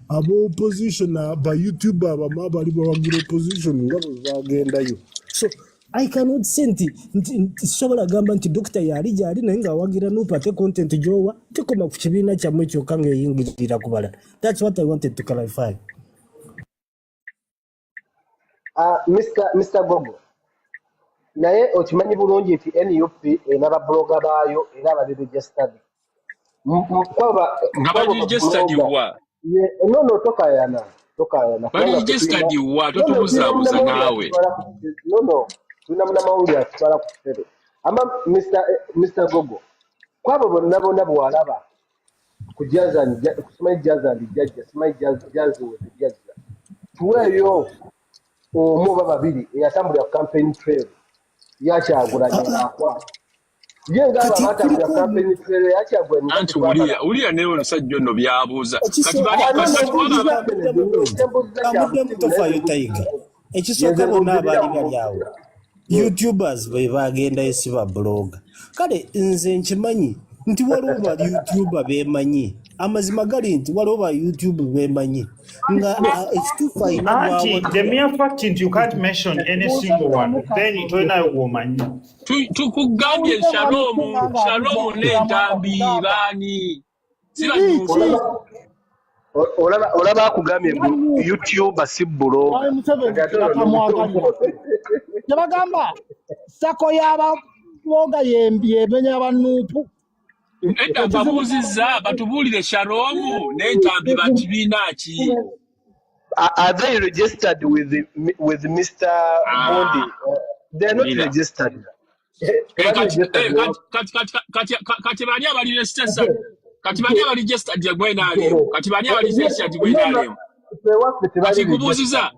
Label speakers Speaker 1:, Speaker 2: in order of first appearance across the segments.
Speaker 1: aba opposition ba youtube abamu abali bawagira opposition nga bwe bagendayo so i cannot say nti sisobola gamba nti dokita yaali gyali naye ngaawagira nup ate content gyowa tekoma ku kibiina kyammwe kyokka ngaeyingirira ku balala thats what i wanted to clarify
Speaker 2: Ah, Mr. Mr. Gogo naye okimanyi bulungi nti nup erina babuloga baayo era abarirejestadi
Speaker 3: nga barirejestadi wa nono
Speaker 2: tokayana tokayana
Speaker 3: barirejestadi wa totubuzaabuza naawe nono
Speaker 2: tulina munamawulire atutwala ku kitebe ama Mr. Mr. Gogo kwabo bonna bonna bwalaba kujazani kusimayi jazani jajja simayi jazi wetu jazza tuweeyo omu oba babiri eyatambulira ku campaign trail yakyagulanyi akwata ye ngaabo abatambulira ku campaign trail yakyagulanyi anti uliya uliya
Speaker 3: naye omusajja ono byabuuza kati bali kati
Speaker 1: waba ekisooka bonna abaali bali awo youtubers be bagenda esiba blogga kale nze nkimanyi nti waliwo ba youtuber bemanyi amazima gali nti waliwo ba youtube bemanyi nga ah, ekituufu
Speaker 4: ainatukugambye
Speaker 3: shalomu shalomu nentambi baani
Speaker 2: olaba akugambye mbu youtube si bulogkyebagamba
Speaker 5: sako yababoga yemenya abanuupu edda babuuzizza
Speaker 3: batubuulire sharomu n'entambi bakibiina ki
Speaker 2: are they registered with the, with Mr. Ah. Bondi? They're not registered.
Speaker 3: kati bani abali registered kati bani abali registered gye gwenaaleo kati bani abali registered gye gwenaaleo kati kubuuziza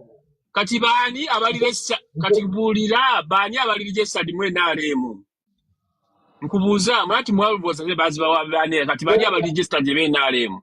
Speaker 3: kati bani abali registered kati buulira bani abali registered mwenaalemu nkubuuza mwati mwalubooza ne bazibawa bani kati bani abali registered gye beenaalemu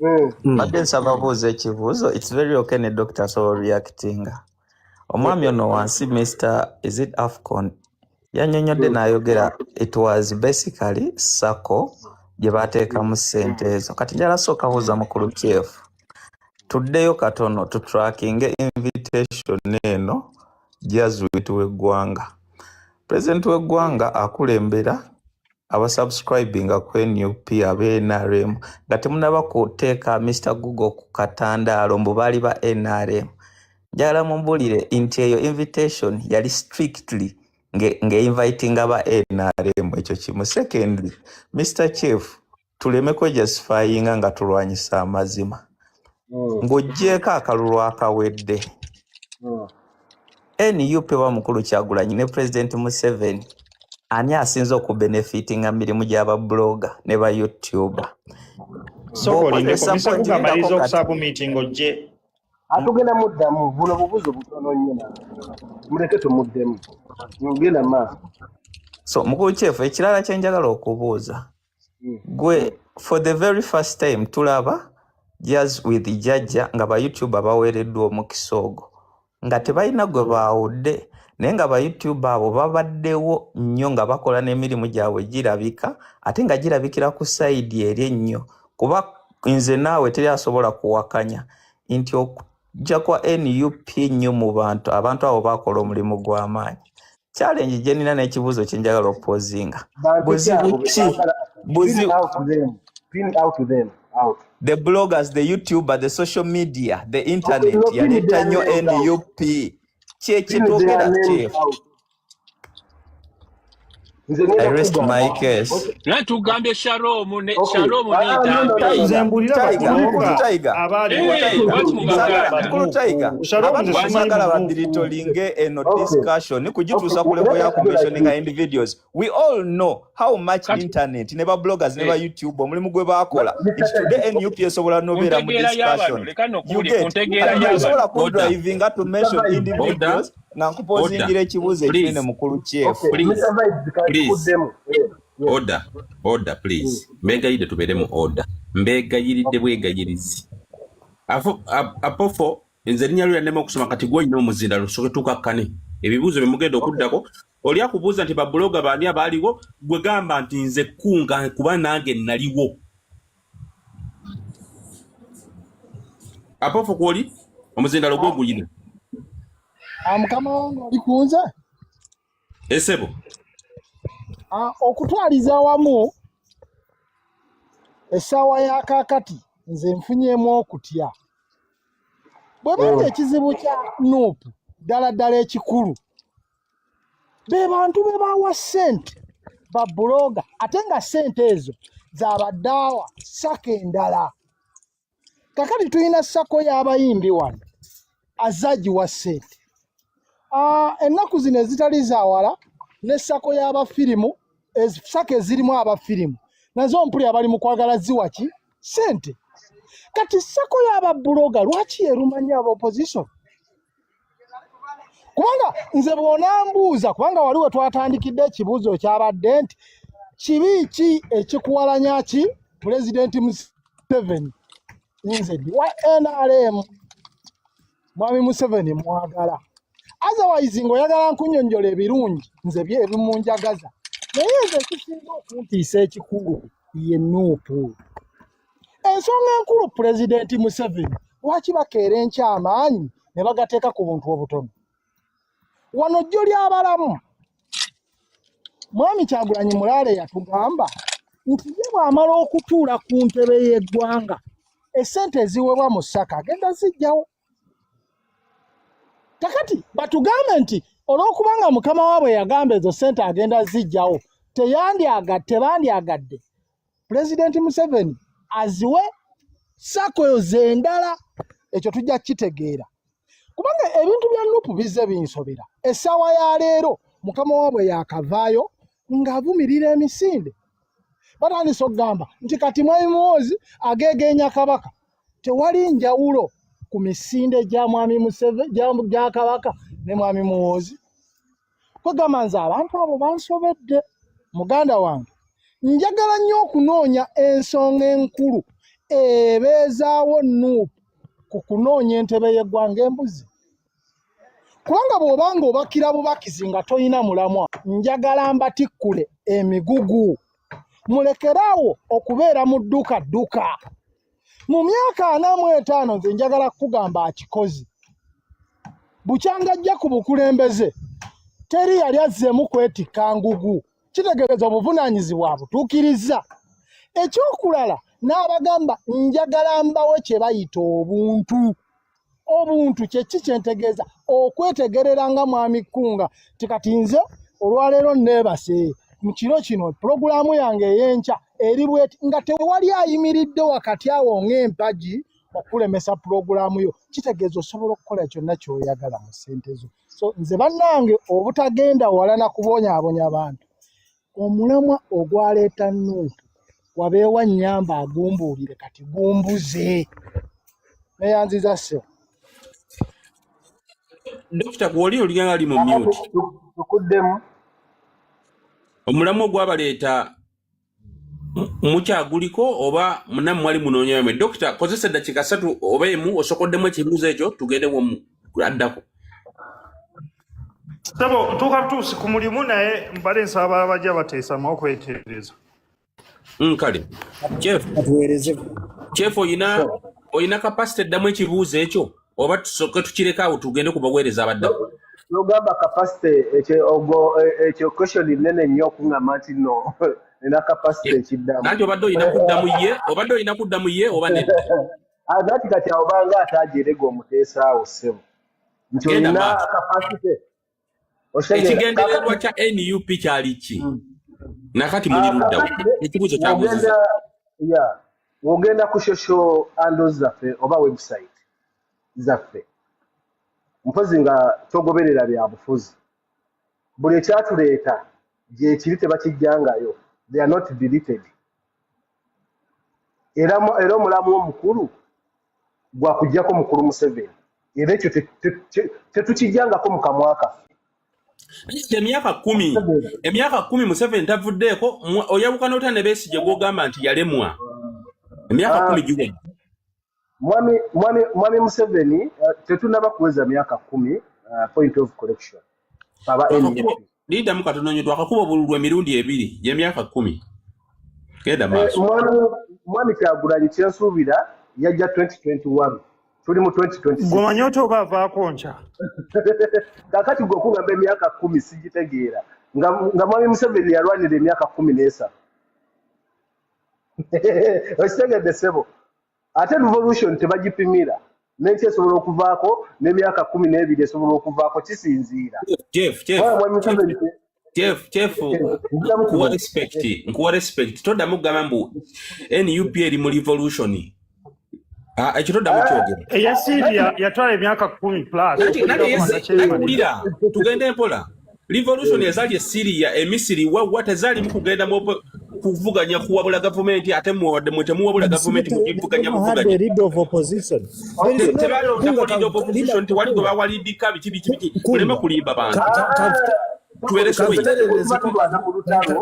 Speaker 6: Hmm. Hmm. mbadde nsaba buuza ekibuuzo its very okay ne doctor asobola oreactinga omwami ono wansi mr is it afcon yanyonyodde hmm. nayogera it was basically sako gye bateekamu ssente ezo kati njala sooka buuza mukulu kyefu tuddeyo katono tutrackinge invitation eno jazwit w'eggwanga pulezidenti w'eggwanga akulembera abasubscribinga ku nup abe nrm nga temunaba kuteeka mr google ku katandaalo mbu baali ba nrm njagala mumbulire nti eyo invitation yali strictly ngeinvitinga ba nrm ekyo kimu secondly mr chief tuleme kwejasifayinga nga tulwanyisa amazima mm. ng'oggyeeko akalulu akawedde mm. nup wa mukulu kyagulanyi ne pulezidenti museveni ani asinze okubenefiti nga mirimu gyaba blogger ne ba youtuber
Speaker 4: atugenda muddamu buno
Speaker 2: bubuzo butono nnyo muleke tumuddemu ngenda maaso so
Speaker 6: mukulu kyefu ekirala kyenjagala okubuuza gwe for the very first time tulaba jaz with jajja nga ba youtuber baweereddwa omukisa ogwo nga tebalina gwe baawudde naye nga ba youtube abo babaddewo nnyo nga bakola n'emirimu gyabwe girabika ate nga girabikira ku sayidi eri ennyo kuba nze naawe teri asobola kuwakanya nti jja kwa nup nnyo mu bantu abantu abo bakola omulimu gw'amaanyi challenge gye nina n'ekibuuzo kye njagala okupozinga buzibu ki
Speaker 2: the bloggers the
Speaker 6: youtuber the social media the internet yaleeta nnyo nup kyekitwogera kyefu naye tugambye
Speaker 3: shalomu ne
Speaker 6: shalomu nzambiyesagala badiritolinge eno discussion kugituusa ku level ya commissioninga individuals we all know how much internet ne babloggers ne ba eh. youtube omulimu gwe bakola nti today nup esobola nobeera mu discussion you get osobola kudrivinga to mention individuals nankupozingira
Speaker 2: ekibuuzo
Speaker 3: ekinene mukulu kyefmbegayiridde eh, tubeere mu order mbegayiridde bwegayirizi apofo nze erinya lyo yanema okusoma kati gwolina omuzinda lusoke tukakkane ebibuuzo byemugenda okuddako oli akubuuza nti babuloga baani abaaliwo gwe gamba nti nze kunga kuba nange naliwo apofu kwoli omuzindalo gwo guyina
Speaker 5: ah, mukama wange oli kunze
Speaker 3: esebo ah,
Speaker 5: okutwaliza wamu essaawa ya kaakati nze nfunyemu okutya bwe banga oh. ekizibu kya nuupu ddala ddala ekikulu be bantu be bawa sente babuloga ate nga sente ezo zabadaawa sako endala kakati tulina sako y'abayimbi wano azagiwa sente ah, ennaku zino ezitali zawala ne sako y'abafirimu sako ezirimu abafirimu nazo mpuli abali mu kwagala ziwa ki sente kati sako y'ababuloga lwaki yerumanya aba opposition kubanga nze bw'onambuuza kubanga wali we twatandikidde ekibuuzo kyabadde nti kibi ki ekikuwalanya ki pulezidenti museveni nze ndi wa nrm mwami museveni mwagala otherwise ng'oyagala nkunyonyola ebirungi nze bye ebimunjagaza naye nze ekisinga okuntiisa ekikulu ye nuupu ensonga enkulu pulezidenti museveni lwaki bakeera enkya amaanyi ne bagateeka ku buntu obutono wano jjo lyabalamu mwami kyagulanyi mulaale yatugamba nti ye bw'amala okutuula ku ntebe y'eggwanga esente eziweebwa mu ssaka agenda zijjawo kakati batugambe nti olw'okubanga mukama waabwe yagamba ezo sente agenda zijjawo tebandyagadde pulezidenti museveni aziwe sako eyo zendala ekyo tujja kukitegeera kubanga ebintu bya nupu bizze binsobera essaawa ya leero mukama waabwe yakavaayo ng'avumirira emisinde batandise okugamba nti kati mwami muwoozi ageegeenya kabaka tewali njawulo ku misinde gya mwami museve gya kabaka ne mwami muwoozi kwegamba nze abantu abo bansobedde muganda wange njagala nnyo okunoonya ensonga enkulu ebeezaawo nuupu ku kunoonya entebe y'eggwanga embuzi kubanga bw'oba nga obakira bubakizi nga tolina mulamwa njagala mbatikkule emigugu mulekeraawo okubeera mu dduka dduka mu myaka ana mu etaano nze njagala kukugamba akikozi bukyanga ajja ku bukulembeze teri yali azzeemu kwetikka ngugu kitegeeza obuvunaanyizibwa abutuukirizza ekyokulala n'abagamba njagala mbawe kye bayita obuntu obuntu kyeki kyentegeeza okwetegerera nga mwami kkunga ti kati nze olwaleero neebase mu kiro kino pulogulaamu yange ey'enkya eri bweti nga tewali ayimiridde wakati awo ng'empagi okulemesa pulogulaamu yo kitegeeza osobola okukola kyonna kyoyagala mu ssente zo so nze bannange obutagenda wala na kubonyabonya bantu omulamwa ogwaleeta nuupu wabeewa nnyamba agumbuulire kati gumbuze neyanziza se
Speaker 3: dokita gwoli olina ali mu myuti tukuddemu omulamwa ogwabaleeta mukyaguliko oba munamu mwali munoonya yamwe dokita kozesa eddakiika satu oba emu osokoddemu ekibuuzo ekyo tugende womu addako
Speaker 4: sebo ntuuka butuusi ku mulimu naye mbale nsaba abajja bateesamu okwetereeza mm,
Speaker 3: kale kyef oyina oyina kapasite eddamu ekibuuzo ekyo oba tusoke tukireka awo tugende ku baweereza abadda nogamba
Speaker 2: kapasite ekyo question nene nnyo okuŋama nti no nina kapasite ekiddamu nanti obadde olina kudda
Speaker 3: mu ye obadde olina kudda mu ye oba nedda agati ah, kati
Speaker 2: awo banga ate ajerega omuteesaawo ssebo nti olina kapasite
Speaker 3: ekigendererwa kya nup kyali ki hmm. nakati muli ah, luddawo ekibuuzo kyabuziza
Speaker 2: wogenda ku shosho andos zaffe oba website zaffe mpozi nga togoberera bya bufuzi buli ekyatuleeta gyekiri tebakijjangayo they are not deleted era era omulamu omukulu gwa kujjako mukulu museveni era ekyo tetukijjangako mu kamwa kaffe emyaka kumi
Speaker 3: emyaka kumi museveni tavuddeeko oyawukana otya ne besigye gwogamba nti yalemwa emyaka ah. kumi giwedde mwami mwami
Speaker 2: mwami museveni uh, tetunaba kuweza myaka kumi uh, point of correction aba lidamu
Speaker 3: katononyo twakakuba obululu emirundi ebiri gyemyaka kumi genda eh, maaso mwami
Speaker 2: kyagulanyi kyensuubira yajja 2021 tuli mu 2026 gomanya oti oba avaako
Speaker 4: nkya
Speaker 2: kakati gwe okugamba emyaka kumi sigitegeera nga mwami museveni yalwanira emyaka kumi n'esatu okitegedde sebo ate revolution tebagipimira nensi esobola okuvaako nemyaka kumi nebiri esobola okuvaako kisinziira
Speaker 3: nkuwa respect todamu kugamba mbu nup eri mu revolution Ah, ekiro ddamu kyogera eh, eya siria
Speaker 4: yatwala emyaka kumi pluswulira
Speaker 3: tugende mpola revolution ezali esiria emisiri wawwa tezalimu kugenda kuvuganya kuwabula gavumenti ate muwadde mwe temuwabula gavumenti mukivuganya
Speaker 1: buvuganyatebalondakolidopposition
Speaker 3: tewali gwe bawalidika biki biki biki muleme kulimba bantu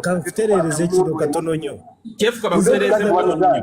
Speaker 3: kanfuterereze
Speaker 1: kino katono nyo kyefuka bakutereze
Speaker 3: muwano nyo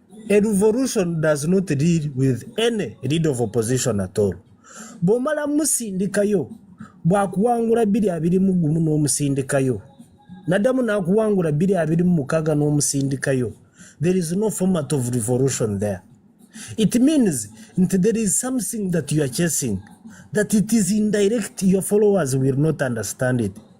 Speaker 1: A revolution does not deal with any lead of opposition at all. Bwomala musindikayo bwakuwangula biri abiri mu gumu n'omusindikayo nadamu nakuwangula biri abiri mu mukaga n'omusindikayo there is no format of revolution there it means nti there is something that you are chasing that it is indirect your followers will not understand it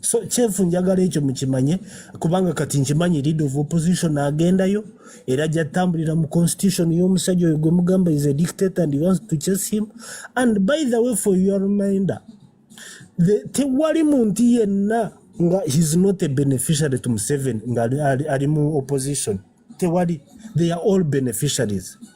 Speaker 1: so kyefu njagala ekyo mukimanye kubanga kati nkimanyi lead of opposition agendayo era ajja tambulira mu constitution y'omusajja oyo gwe mugamba is a dictator and wants to chase him and by the way for your reminder tewali muntu yenna nga he's not a beneficiary to museven nga ali mu opposition tewali they are all beneficiaries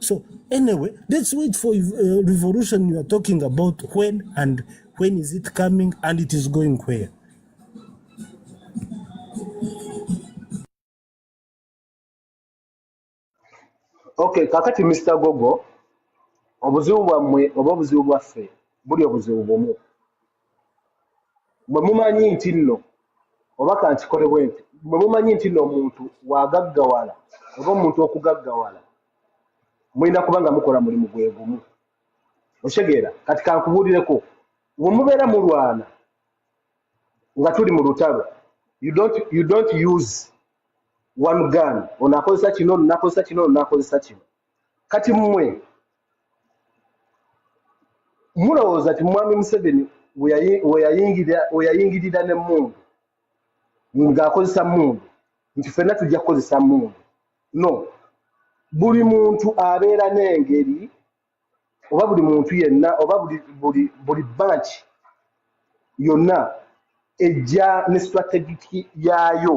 Speaker 1: So anyway, let's wait for uh, revolution you are talking about when and when is it coming and it is going where.
Speaker 2: Okay, kakati Mr. Gogo, obuzibu bwammwe oba obuzibu bwaffe buli obuzibu bumu. mwe mumanyi nti nno oba kankikole bwe nti mwe mumanyi nti nno omuntu wagaggawala oba omuntu okugaggawala mulina kuba nga mukola mulimu gwe gumu okitegeera kati kankubuulireko we mubeera mulwana nga tuli mu lutalo you don't, you don't use one gun onakozesa kino nakozesa kino nakozesa kino kati mmwe mulowooza ti mwami museveni weyayingirira ne mundu ng'akozesa mundu nti fenna tujja kukozesa mundu no buli muntu abeera n'engeri oba buli muntu yenna oba buli banki yonna ejja ne strategiki yaayo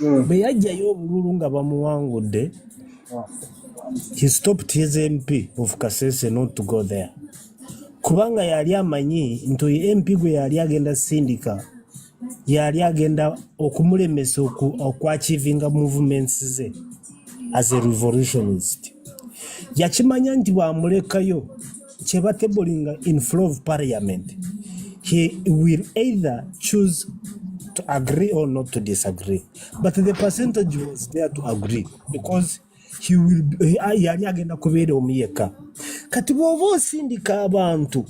Speaker 1: mm. bwe yajjayo obululu nga bamuwangudde he stopped his mp of kasese not to go there kubanga yali amanyi nti oyo mp gwe yali agenda sindika yali agenda okumulemesa okwachivinga movements ze as a revolutionist yakimanya nti bwamulekayo kyeba tabling in flow of parliament he will either choose to agree or not to disagree but the percentage was there to agree because he will be- ah, yali agenda kubeera omu yekka kati bw'oba osindika abantu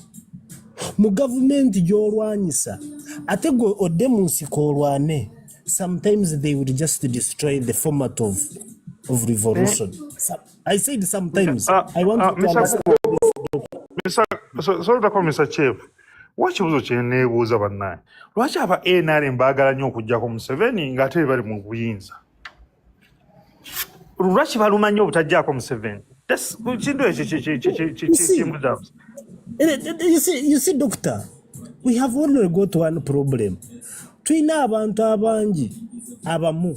Speaker 1: mu gavumenti gy'olwanyisa ate gwe odde mu nsiko olwane sometimes they will just destroy the format of, of revolution Some- I said sometimes uh,
Speaker 4: I want uh, to Mr. understand this. Mr. So, sorry to call Mr. Chief. Wa kibuzo kye neebuuza bannaye lwaki aba nrm baagala nnyo okugyako museveni ng'ate bali mu buyinza lwaki baluma nnyo obutagyako museveni kintu ekyo kimbuzabuza you
Speaker 1: see, you see doctor we have only got one problem tulina abantu abangi abamu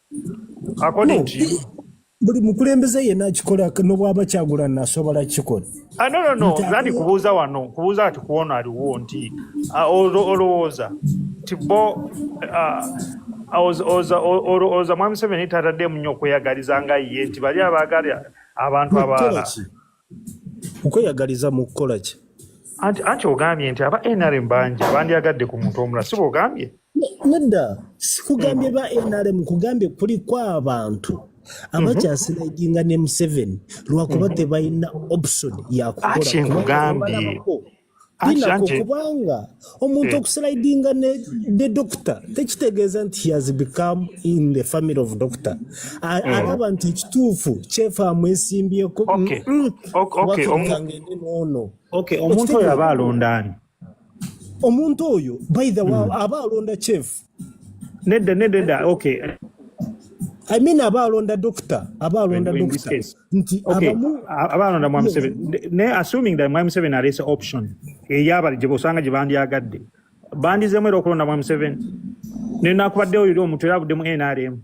Speaker 4: according to you buli mukulembeze
Speaker 1: yena akikola nobwaba kyagula nasobola kikola ah, no, no, no. zani
Speaker 4: kubuuza wano kubuuza ati kuwono aliwo nti ah, olowooza nti bo ah, olowooza mwami seveni tataddemu nyo okweyagaliza nga ye nti bali abagala abantu abalala
Speaker 1: okweyagaliza mu kukola ki anti anti
Speaker 4: ogambye nti aba nrm bangi bandyagadde ku muntu omula si bwogambye nedda
Speaker 1: sikugambye ba nrm kugambye kuliko abantu abakyasinaginga ne museveni lwakuba tebalina option yakukolankugambye binako kubanga omuntu eh. okuslidinga ne, ne doctor tekitegeeza nti he has become in the family of doctor eh. alaba nti ekituufu kyefa amwesimbyeko nono
Speaker 4: omuntu oyo aba alonda ani omuntu
Speaker 1: oyo by the way mm. aba alonda chefu nedda nedda
Speaker 4: nedda okay
Speaker 1: I mean abaalonda doctor abaalonda doctor nti abamu abaalonda
Speaker 4: mwami Museveni ne assuming that mwami Museveni aleese option eyabali gye osanga gye bandyagadde bandizeemu era okulonda mwami Museveni ne nakubaddewo yuli omuntu era abuddemu NRM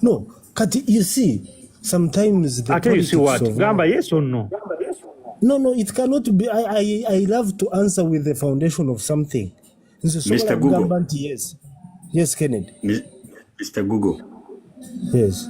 Speaker 1: no kati you see sometimes the ate you see what gamba
Speaker 4: yes or no no no
Speaker 1: it cannot be I, I, I love to answer with the foundation of something nze sobola
Speaker 7: kugamba nti yes yes
Speaker 1: kennedy mr
Speaker 7: google yes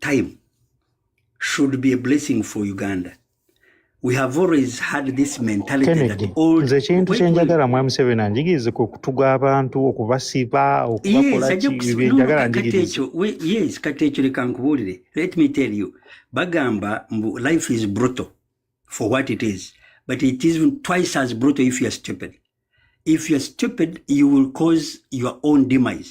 Speaker 7: time should be a blessing for Uganda. We have always had this mentality Kennedy, that all nze
Speaker 4: ekintu kye
Speaker 7: njagala
Speaker 4: mwami Museveni anjigirize ku kutuga abantu okubasiba okubakola njagala njigirize yes kati
Speaker 7: ekyo leka nkubuulire let me tell you bagamba mbu life is brutal for what it is but it is twice as brutal if you are stupid if you are stupid you will cause your own demise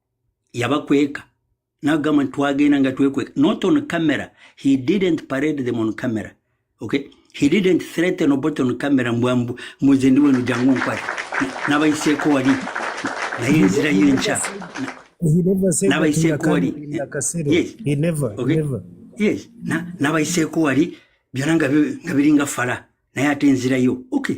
Speaker 7: yabakweka nagamba nti twagenda nga twekweka not on camera he didn't parade them on camera okay he didn't threaten obot on camera mbwambu muze ndi wenu jangu nkwati nabayiseeko wali
Speaker 1: naye enzira yo enkya nabayiseeko wali yes
Speaker 7: nabayiseeko wali byona nga biringa fala naye ate enzira yo okay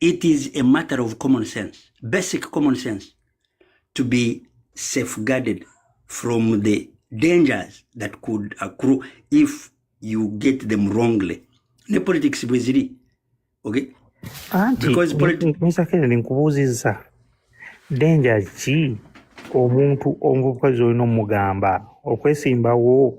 Speaker 7: It is a matter of common sense, basic common sense to be safeguarded from the dangers that could accrue if you get them wrongly. Ne politics bweziri. Okay? Auntie, Because politics... Mr. Kennedy,
Speaker 4: nkubuziza. Danger ki? omuntu omuvubuka zolina omugamba okwesimbawo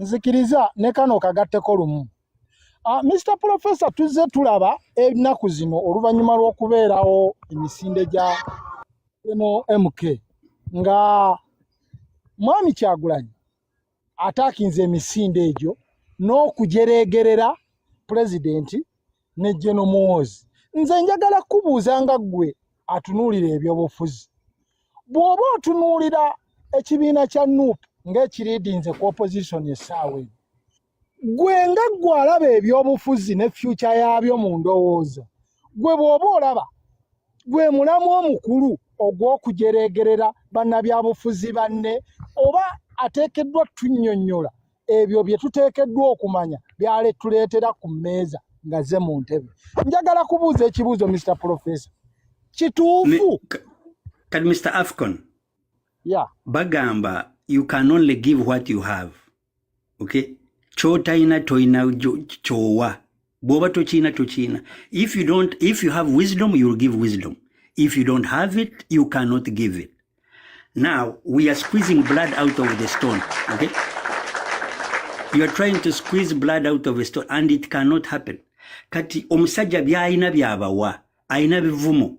Speaker 5: nzikiriza ne kano kagatteko lumu Uh, ah, Mr. Professor tuzze tulaba ennaku zino oluvannyuma lw'okubeerawo emisinde gya eno MK nga mwami Kyagulanyi ataakinze emisinde egyo n'okujereegerera pulezidenti ne General Muhoozi nze njagala kubuuza nga ggwe atunuulira ebyobufuzi bw'oba otunuulira ekibiina kya nup ng'ekiriidinze ku opposition essaawa eno gwe nga ggwe alaba ebyobufuzi ne fyuca yaabyo mu ndowooza gwe bw'oba olaba gwe mulamu omukulu ogw'okujereegerera bannabyabufuzi banne oba ateekeddwa tunnyonnyola ebyo bye tuteekeddwa okumanya byaletuleetera ku mmeeza nga ze mu ntebe njagala kubuuza ekibuuzo mr professor kituufu kati
Speaker 7: mr afcon yeah.
Speaker 5: bagamba
Speaker 7: you can only give what you have okay kyotalina tolina kyowa bwoba tokiina tokiina if you don't if you have wisdom you'll give wisdom if you don't have it you cannot give it now we are squeezing blood out of the stone okay you are trying to squeeze blood out of a stone and it cannot happen kati omusajja byalina byabawa alina bivumo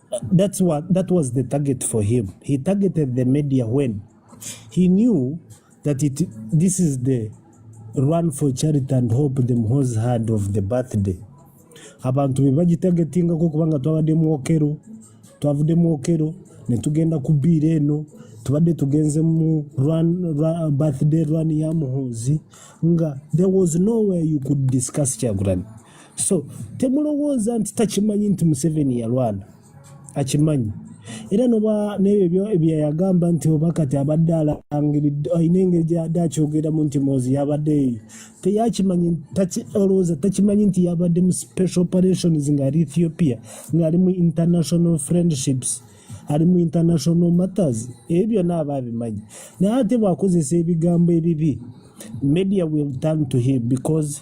Speaker 1: That's what that was the target for him. He targeted the media when he knew that it this is the run for charity and hope the Muhoozi had of the birthday. Abantu be bagitagetinga ko kubanga twabadde mu okero twavudde mu okero ne tugenda ku biira eno tubadde tugenze mu run, run, birthday run ya Muhoozi nga there was nowhere you could discuss Kyagulanyi so temulowooza nti takimanyi nti museveni yalwana akimanyi era noba nebyo byeyagamba nti oba kati abadde alangiridde alina engeri gyadde akyogeramu nti mozi yabadde eyo teyakimanyi olowooza takimanyi nti yabadde mu special operations ngaali ethiopia ngaali mu international friendships ali mu international matters ebyo byonna aba abimanyi naye ate bwakozesa ebigambo ebibi media will turn to him because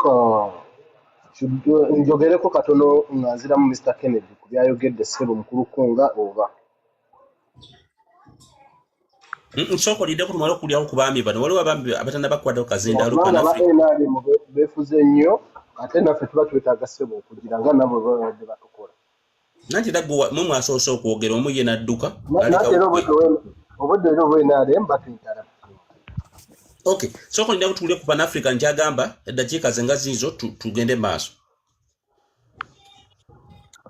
Speaker 2: Ka- kidu- njogereko katono nga nziramu mr kennedy ku byayogedde ssebo mukulu kunga oba Mm,
Speaker 8: mm, sooka olindeko tumale okulyawo ku baami bano waliwo abaami abatanabakwatako kazindaalo kubanga aba kanafe nrm
Speaker 2: be- beefuze nnyo ate naffe tuba twetaaga ssebo okugira nga nabo bwe babadde batukola nanti
Speaker 8: era gwe mwe mwasoose okwogera omu ye n'adduka obudde era
Speaker 2: obwenrm batuyitala
Speaker 8: ok sooka olina kutuwule ku panafrica nkyagamba eddakiika ze nga ziizo tugende maaso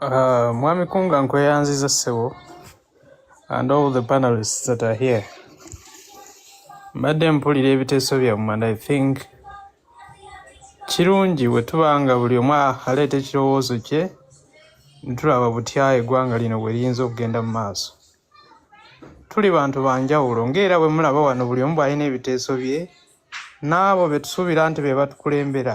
Speaker 9: ah, mwami kunga nkweyanziza ssebo and all the panelists that are here mbadde mpulira ebiteeso byammwe and i think kirungi bwe tuba nga buli omu aleeta ekirowoozo kye ntulaba butya eggwanga lino bwe liyinza okugenda mu maaso tuli bantu ba njawulo ng'era bwe mulaba wano buli omu bw'alina ebiteeso bye n'abo be tusuubira nti be batukulembera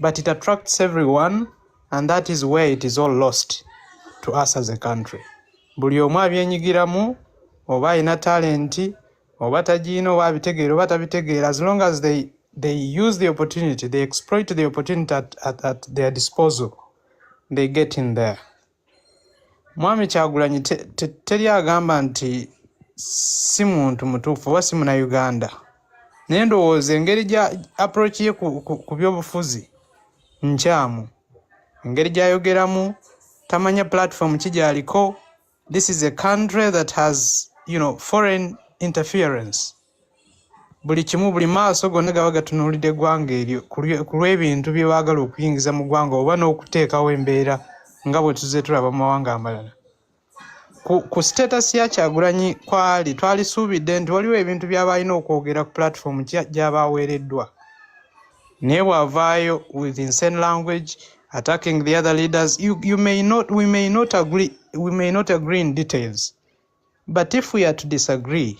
Speaker 9: but it attracts everyone and that is where it is all lost to us as a country buli omu abyenyigiramu oba alina talenti oba tagiina oba abitegeera oba tabitegeera as long as they, they use the opportunity they exploit the opportunity at, at, at their disposal they get in there Mwami Kyagulanyi te, te, teri agamba nti si muntu mutuufu oba si muna Uganda, naye ndowooza engeri gya approach ye ku, ku, ku byobufuzi nkyamu, engeri gyayogeramu tamanya platform ki gyaliko. This is a country that has you know foreign interference. buli kimu buli maaso gonna gaba gatunuulidde eggwanga eryo ku lw'ebintu bye baagala okuyingiza mu ggwanga oba n'okuteekawo embeera nga bwe tuzze tulaba mu mawanga amalala ku sitatasi ya kyagulanyi kwali twalisuubidde nti waliwo ebintu byaba alina okwogera ku pulatifoomu gyaba aweereddwa naye bw'avaayo with insane language attacking the other leaders you, you may not, we may not agree, we may not agree in details but if we are to disagree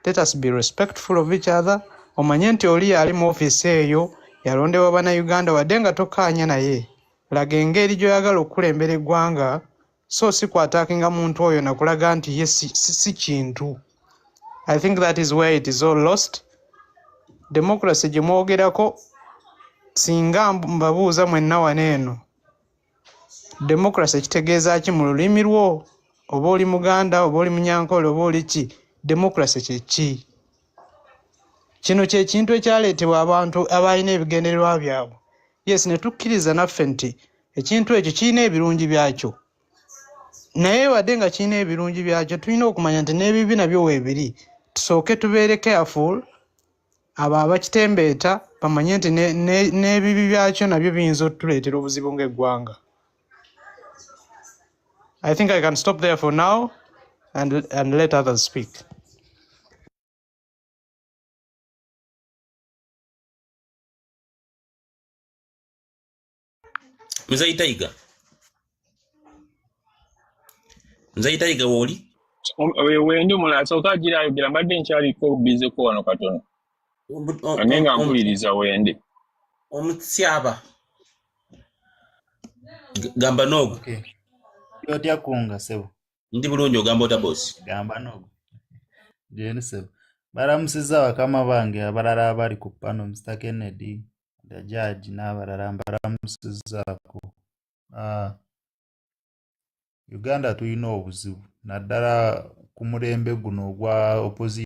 Speaker 9: let us be respectful of each other omanye nti oli ali mu ofiisi eyo yalondebwa bannayuganda wadde nga tokaanya naye laga engeri gy'oyagala okukulembera eggwanga so si kwataakinga muntu oyo nakulaga nti ye si kintu i think that is where it is all lost democracy gye mwogerako singa mbabuuza mwenna wano eno democracy kitegeeza ki mu lulimi lwo oba oli muganda oba oli munyankole oba oli ki democracy kyeki kino kyekintu ekyaleetebwa abantu abalina ebigendererwa byabwe yes ne tukkiriza naffe nti ekintu ekyo kirina ebirungi byakyo naye wadde nga kirina ebirungi byakyo tulina okumanya nti n'ebibi nabyo weebiri tusooke tubeere careful abo abakitembeeta bamanye nti n'ebibi byakyo nabyo biyinza otuleetera obuzibu ng'eggwanga i think i can stop there for now and, and let others speak
Speaker 8: Mzee Taiga. Mzee Taiga woli? Wewe ndio
Speaker 3: mula soka jira yogera mbadde nkyali ko busy ko wano katono. Ane nga mpuliriza wende. Omutyaba.
Speaker 8: Gamba nogo. Okay.
Speaker 10: Yotya kunga sebo. Ndi bulungi ogamba
Speaker 8: ota boss. Gamba nogo.
Speaker 10: Jeni sebo. Baramusiza wakama bange abarara abali kupano Mr. Kennedy. nga jaaji n'abalala mbalamusizzaako. Ah, Uganda tulina obuzibu naddala ku mulembe guno ogwa opposition.